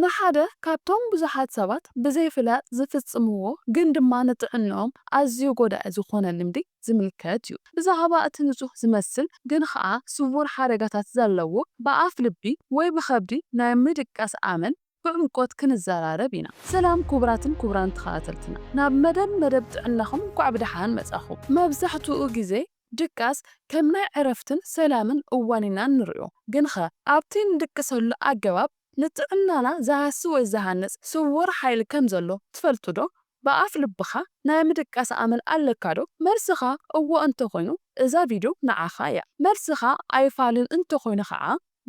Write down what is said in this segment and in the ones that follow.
ንሓደ ካብቶም ብዙሓት ሰባት ብዘይፍላጥ ዚፍጽምዎ ግን ድማ ንጥዕንኦም ኣዝዩ ጐዳኢ ዝዀነ ልምዲ ዚምልከት እዩ። ብዛዕባ እቲ ንጹህ ዚመስል ግን ኸኣ ስዉር ሓደጋታት ዘለዎ ብኣፍ ልቢ ወይ ብኸብዲ ናይ ምድቃስ ኣመል ብዕምቈት ክንዘራረብ ኢና። ሰላም ኩቡራትን ኩቡራን ተኸታተልትና ናብ መደብ መደብ ጥዕናኹም እንኳዕ ብደሓን መጻኹም። መብዛሕትኡ ግዜ ድቃስ ከም ናይ ዕረፍትን ሰላምን እዋን ኢና እንርእዮ። ግንኸ ኣብቲ እንድቅሰሉ ኣገባብ ንጥዕናና ዝሃሲ ወይ ዝሃንጽ ስዉር ሓይሊ ከም ዘሎ ትፈልጥዶ? ብኣፍ ልብኻ ናይ ምድቃስ ኣመል ኣለካዶ? መልስኻ እዎ እንተ ኾይኑ እዛ ቪድዮ ንዓኻ እያ። መልስኻ ኣይፋልን እንተ ኾይኑ ኸኣ፣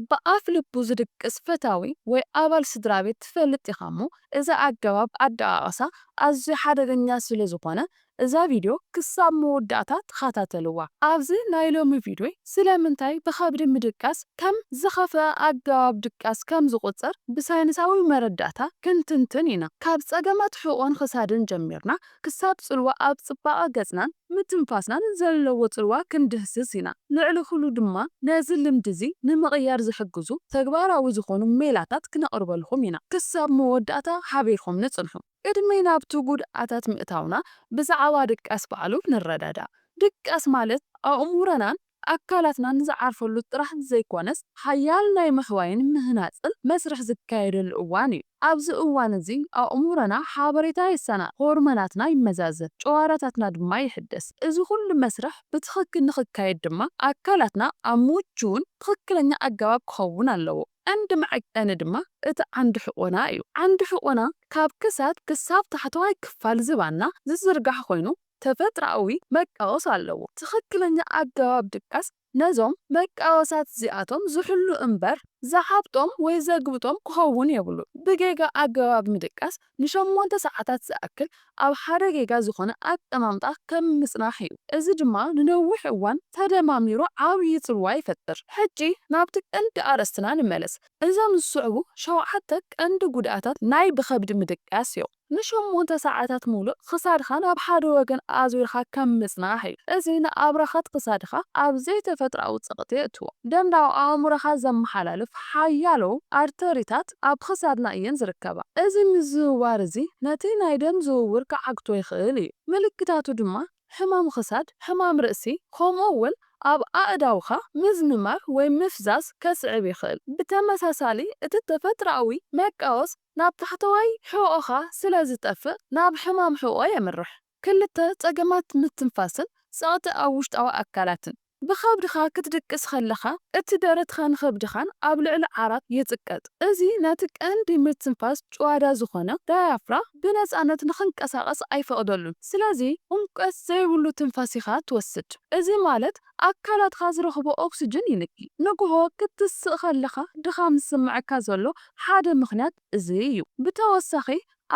ብኣፍ ልቡ ዝድቅስ ፈታዊ ወይ ኣባል ስድራቤት ትፈልጥ ኢኻ እሞ እዚ ኣገባብ ኣደቓቕሳ ኣዝዩ ሓደገኛ ስለ ዝኾነ እዛ ቪድዮ ክሳብ መወዳእታ ተኸታተልዋ። ኣብዚ ናይ ሎሚ ቪድዮይ ስለምንታይ ብኸብዲ ምድቃስ ከም ዝኸፍኣ ኣገባብ ድቃስ ከም ዝቑጸር ብሳይንሳዊ መረዳእታ ክንትንትን ኢና። ካብ ጸገማት ሕቖን ክሳድን ጀሚርና ክሳብ ጽልዋ ኣብ ጽባቐ ገጽናን ምትንፋስናን ዘለዎ ጽልዋ ክንድህስስ ኢና። ልዕሊ ኹሉ ድማ ነዚ ልምዲ እዚ ንምቕያር ዝሕግዙ ተግባራዊ ዝኾኑ ሜላታት ክነቕርበልኹም ኢና። ክሳብ መወዳእታ ሓቢርኹምኒ ጽንሑ። ቅድሚ ናብቲ ጉድኣታት ምእታውና ብዛዕባ ድቃስ ባዕሉ ንረዳዳእ። ድቃስ ማለት ኣእሙሮናን ኣካላትናን ዝዓርፈሉ ጥራሕ ዘይኮነስ ሓያል ናይ ምሕዋይን ምህናጽን መስርሕ ዝካየደሉ እዋን እዩ። ኣብዚ እዋን እዚ ኣእሙሮና ሓበሬታ የሰናድ፣ ሆርሞናትና ይመዛዘን፣ ጨዋዳታትና ድማ ይሕደስ። እዚ ኩሉ መስርሕ ብትኽክል ንኽካየድ ድማ ኣካላትና ኣብ ምቹውን ትኽክለኛ ኣገባብ ክኸውን ኣለዎ። ቀንዲ መዐቀኒ ድማ እቲ ዓንዲ ሕቆና እዩ። ዓንዲ ሕቆና ካብ ክሳድ ክሳብ ታሕተዋይ ክፋል ዝባንና ዝዝርጋሕ ኮይኑ ተፈጥሮኣዊ መቃወስ ኣለዎ። ትኽክለኛ ኣገባብ ድቃስ ነዞም መቃወሳት እዚኣቶም ዝሕሉ እምበር ዝዓብጦም ወይ ዘግብጦም ክኸውን የብሉን። ብጌጋ ኣገባብ ምድቃስ ንሸሞንተ ሰዓታት ዝኣክል ኣብ ሓደ ጌጋ ዝኾነ ኣቀማምጣ ከም ምጽናሕ እዩ፣ እዚ ድማ ንነዊሕ እዋን ተደማሚሩ ዓብዪ ጽልዋ ይፈጥር። ሕጂ ናብቲ ቀንዲ ኣርእስትና ንመለስ፣ እዞም ዝስዕቡ ሸውዓተ ቀንዲ ጉድኣታት ናይ ብኸብዲ ምድቃስ እዮም። ንሸሞንተ ሰዓታት ምሉእ ክሳድኻ ናብ ሓደ ወገን ኣዙርካ ከም ምጽናሕ እዩ፣ እዚ ንኣብራኻት ክሳድኻ ኣብ ዘይተፈጥሮኣዊ ጸቕጢ የእትዎ። ደም ናብ ኣእምሮኻ ዘመሓላልፍ ሓያሎ ኣርተሪታት፣ ኣካላት ኣብ ኽሳድና እየን ዝርከባ። እዚ ምዝውዋር እዚ ነቲ ናይ ደም ዝውውር ክዓግቶ ይኽእል እዩ። ምልክታቱ ድማ ሕማም ኽሳድ፣ ሕማም ርእሲ፣ ኸምኡ እውን ኣብ ኣእዳውካ ምዝምማር ወይ ምፍዛዝ ከስዕብ ይኽእል። ብተመሳሳሊ እቲ ተፈጥሮኣዊ መቃወስ ናብ ታሕተዋይ ሕቖኻ ስለ ዝጠፍእ ናብ ሕማም ሕቖ የምርሕ። ክልተ፣ ጸገማት ምትንፋስን ጸቕጢ ኣብ ውሽጣዊ ኣካላትን። ብኸብድኻ ክትድቅስ ከለኻ እቲ ደረትኻን ኸብድኻን ኣብ ልዕሊ ዓራት ይጽቀጥ። እዚ ነቲ ቀንዲ ምትንፋስ ጭዋዳ ዝኾነ ዳያፍራ ብነጻነት ንኽንቀሳቐስ ኣይፈቕደሉን። ስለዚ ዑምቀት ዘይብሉ ትንፋስ ኢኻ ትወስድ። እዚ ማለት ኣካላትካ ዝረኽቦ ኦክስጅን ይንኪ። ንግሆ ክትስእ ከለኻ ድኻም ዝስምዓካ ዘሎ ሓደ ምኽንያት እዚ እዩ። ብተወሳኺ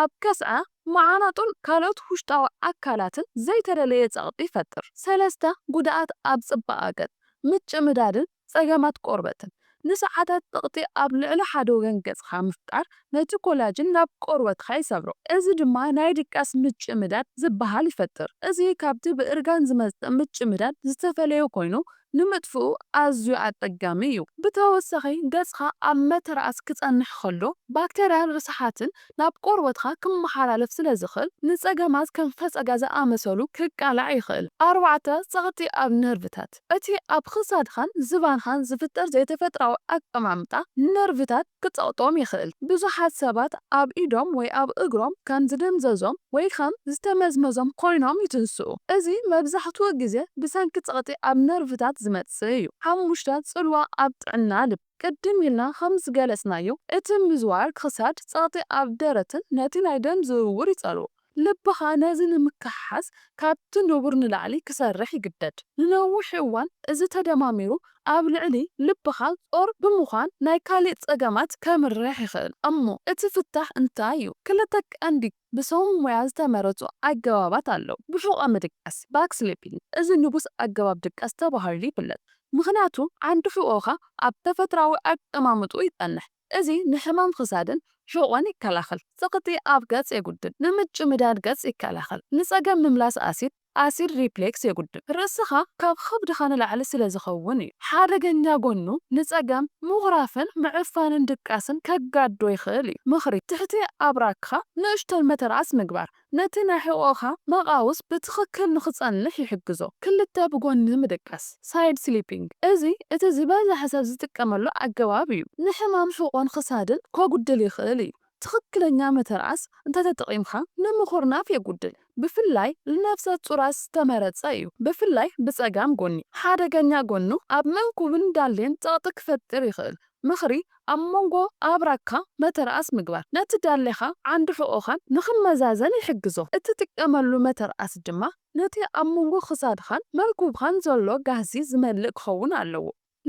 ኣብ ከስዐ፣ መዓናጡን ካልኦት ውሽጣዊ ኣካላትን ዘይተደለየ ጸቕጢ ይፈጥር። ሰለስተ፣ ጉድኣት ኣብ ጽባቐ ገጽ፣ ምጭምዳድን ጸገማት ቆርበትን። ንሰዓታት ጸቕጢ ኣብ ልዕሊ ሓደ ወገን ገጽካ ምፍጣር ነቲ ኮላጅን ናብ ቆርበትካ ይሰብሮ። እዚ ድማ ናይ ድቃስ ምጭምዳድ ዝበሃል ይፈጥር። እዚ ካብቲ ብእርጋን ዝመጽእ ምጭምዳድ ዝተፈለየ ኮይኑ ንምጥፍኡ ኣዝዩ ኣጸጋሚ እዩ። ብተወሳኺ ገጽካ ኣብ መተርኣስ ክጸንሕ ከሎ ባክተርያን ርስሓትን ናብ ቆርበትካ ክመሓላለፍ ስለ ዝኽእል ንጸገማት ከም ፈጸጋ ዝኣመሰሉ ክቃላዕ ይኽእል። ኣርባዕተ፣ ጸቕጢ ኣብ ነርቭታት። እቲ ኣብ ክሳድካን ዝባንካን ዝፍጠር ዘይተፈጥራዊ ኣቀማምጣ ነርቭታት፣ ክጸቕጦም ይኽእል። ብዙሓት ሰባት ኣብ ኢዶም ወይ ኣብ እግሮም ከም ዝደንዘዞም ወይ ከም ዝተመዝመዞም ኰይኖም ይትንስኡ። እዚ መብዛሕትኡ ግዜ ብሰንኪ ጸቕጢ ኣብ ነርቭታት ዝመጽእ እዩ። ሓሙሽተ፣ ጽልዋ ኣብ ጥዕና ልቢ። ቅድም ኢልና ኸም ዝገለጽናዮ፣ እቲ ምዝዋር ክሳድ፣ ጸቕጢ ኣብ ደረትን ነቲ ናይ ደም ዝውውር ይጸልዎ። ልብኻ ነዚ ንምክሕሓስ ካብቲ ንቡር ንላዕሊ ክሰርሕ ይግደድ። ንነዊሕ እዋን እዚ ተደማሚሩ ኣብ ልዕሊ ልብኻ ጾር ብምዃን ናይ ካልእ ጸገማት ከምርሕ ይኽእል። እሞ እቲ ፍታሕ እንታይ እዩ? ክልተ ቀንዲ ብሰብ ሞያ ዝተመረጹ ኣገባባት ኣለዉ። ብሑቐ ምድቃስ፣ Back Sleeping፣ እዚ ንጉስ ኣገባብ ድቃስ ተባሂሉ ይፍለጥ። ምኽንያቱ ዓንዲ ሕቖኻ ኣብ ተፈጥሮኣዊ ኣቀማምጥኡ ይጸንሕ። እዚ ንሕማም ኽሳድን ሕቖን ይከላኸል። ጽቕጢ ኣብ ገጽ የጉድል። ንምጭምዳድ ገጽ ይከላኸል። ንጸገም ምምላስ ኣሲድ፣ Acid Reflux፣ የጉድል። ርእስኻ ካብ ኽብድኻ ንላዕሊ ስለ ዝኸውን እዩ። ሓደገኛ ጎኑ ንጸገም ምኹራፍን ምዕፋንን ድቃስን ከጋድዶ ይኽእል እዩ። ምኽሪ፣ ትሕቲ ኣብራክኻ ንእሽቶን መተርኣስ ምግባር፣ ነቲ ናይ ሕቖኻ መቓውስ ብትኽክል ንኽጸንሕ ይሕግዞ። ክልተ ብጎኒ ምድቃስ፣ Side Sleeping፣ እዚ እቲ ዝበዝሐ ሰብ ዝጥቀመሉ ኣገባብ እዩ። ንሕማም ሕቖን ኽሳድን ከጉድል ይኽእል እዩ። ትኽክለኛ ምትርኣስ እንተተጠቒምካ ንምኹርናፍ የጉድል፣ ብፍላይ ልነፍሰጹራት ዝተመረጸ እዩ፣ ብፍላይ ብጸጋም ጎኒ። ሓደገኛ ጎኑ ኣብ መንኩብን ዳሌን ጸቕጢ ክፈጥር ይኽእል፣ ምኽሪ ኣብ መንጎ ኣብራግካ መተርኣስ ምግባር ነቲ ዳሌኻ ዓንዲ ሕቖኻን ንኽመዛዘን ይሕግዞ። እትጥቀመሉ መተርኣስ ድማ ነቲ ኣብ መንጎ ክሳድኻን መንኩብኻን ዘሎ ጋህሲ ዝመልእ ክኸውን ኣለዎ።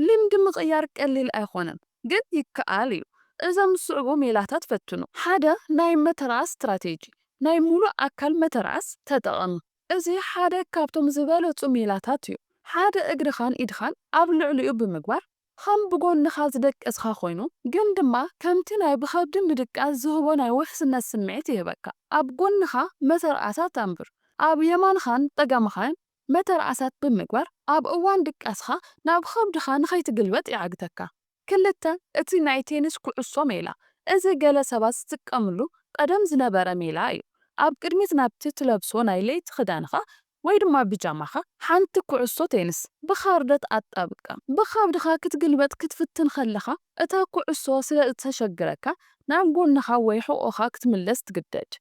ልምዲ ምቕያር ቀሊል ኣይኮነን ግን ይከኣል እዩ። እዞም ዝስዕቡ ሜላታት ፈትኑ። ሓደ ናይ መተርኣስ ስትራቴጂ፣ ናይ ምሉእ ኣካል መተርኣስ ተጠቐም። እዚ ሓደ ካብቶም ዝበለጹ ሜላታት እዩ። ሓደ እግርኻን ኢድኻን ኣብ ልዕሊኡ ብምግባር ኸም ብጎንኻ ዝደቀስኻ ኾይኑ ግን ድማ ከምቲ ናይ ብኸብዲ ምድቃስ ዝህቦ ናይ ውሕስነት ስምዒት ይህበካ። ኣብ ጎንኻ መተርኣሳት ኣንብር። ኣብ የማንኻን ጸጋምኻን መተርኣሳት ብምግባር ኣብ እዋን ድቃስኻ ናብ ኸብድኻ ንኸይትግልበጥ ይዓግተካ። ክልተ፣ እቲ ናይ ቴኒስ ኩዕሶ ሜላ። እዚ ገለ ሰባት ዝጥቀምሉ ቐደም ዝነበረ ሜላ እዩ። ኣብ ቅድሚት ናብቲ ትለብሶ ናይ ለይቲ ኽዳንኻ ወይ ድማ ብጃማኻ ሓንቲ ኩዕሶ ቴንስ ብኻርደት ኣጣብቅካ ብኻብድኻ ክትግልበጥ ክትፍትን ከለኻ፣ እታ ኩዕሶ ስለ እተሸግረካ ናብ ጎንኻ ወይ ሕቖኻ ክትምለስ ትግደድ።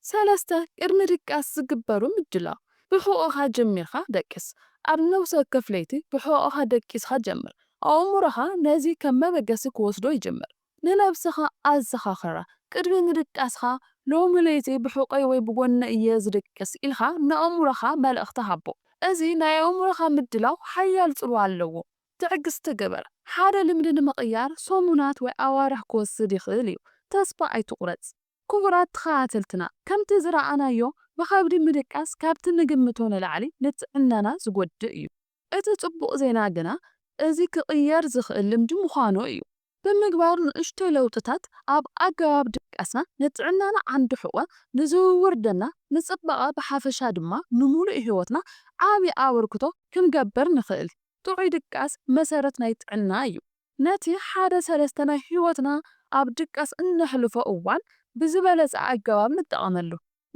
ሰለስተ ቅድሚ ድቃስ ዝግበሩ ምድላው። ብሕቖኻ ጀሚርካ ደቅስ። ኣብ ነብሲ ወከፍ ለይቲ ብሕቖኻ ደቂስካ ጀምር። ኣእምሮኻ ነዚ ከም መበገሲ ክወስዶ ይጅምር። ንነብስኻ ኣዘኻኽራ። ቅድሚ ምድቃስካ፣ ሎሚ ለይቲ ብሕቖይ ወይ ብጎነይ እየ ዝድቅስ ኢልካ ንኣእምሮኻ መልእኽቲ ሃቦ። እዚ ናይ ኣእምሮኻ ምድላው ሓያል ጽልዋ ኣለዎ። ትዕግስቲ ግበር። ሓደ ልምዲ ንምቕያር ሰሙናት ወይ ኣዋርሕ ክወስድ ይኽእል እዩ። ተስፋ ኣይትቑረጽ። ክቡራት ተኸታተልትና፣ ከምቲ ዝረኣናዮ ብኸብዲ ምድቃስ ካብቲ ንግምቶ ንላዕሊ ንጥዕናና ዝጎድእ እዩ። እቲ ጽቡቕ ዜና ግና እዚ ክቕየር ዝኽእል ልምዲ ምዃኑ እዩ። ብምግባር ንእሽቶ ለውጥታት ኣብ ኣገባብ ድቃስና፣ ንጥዕናና ዓንዲ ሕቖ፣ ንዝውውር ደምና፣ ንጽባቐ ብሓፈሻ ድማ ንምሉእ ህይወትና ዓቢ ኣበርክቶ ክንገብር ንኽእል። ጥዑይ ድቃስ መሰረት ናይ ጥዕና እዩ። ነቲ ሓደ ሰለስተ ናይ ህይወትና ኣብ ድቃስ እነሕልፎ እዋን ብዝበለጸ ኣገባብ ንጠቐመሉ።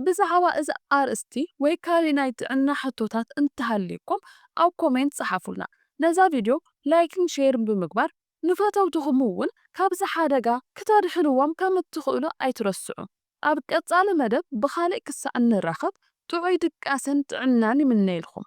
ብዛዕባ እዚ ኣርእስቲ ወይ ካሊእ ናይ ጥዕና ሕቶታት እንተሃልዩኩም ኣብ ኮሜንት ጸሓፉልና። ነዛ ቪድዮ ላይክን ሼርን ብምግባር ንፈተውትኹም እውን ካብዚ ሓደጋ ክተድሕንዎም ከም እትኽእሉ ኣይትረስዑ። ኣብ ቀጻሊ መደብ ብኻሊእ ክሳዕ እንራኸብ ጥዑይ ድቃሰን ጥዕናን ይምነይልኩም።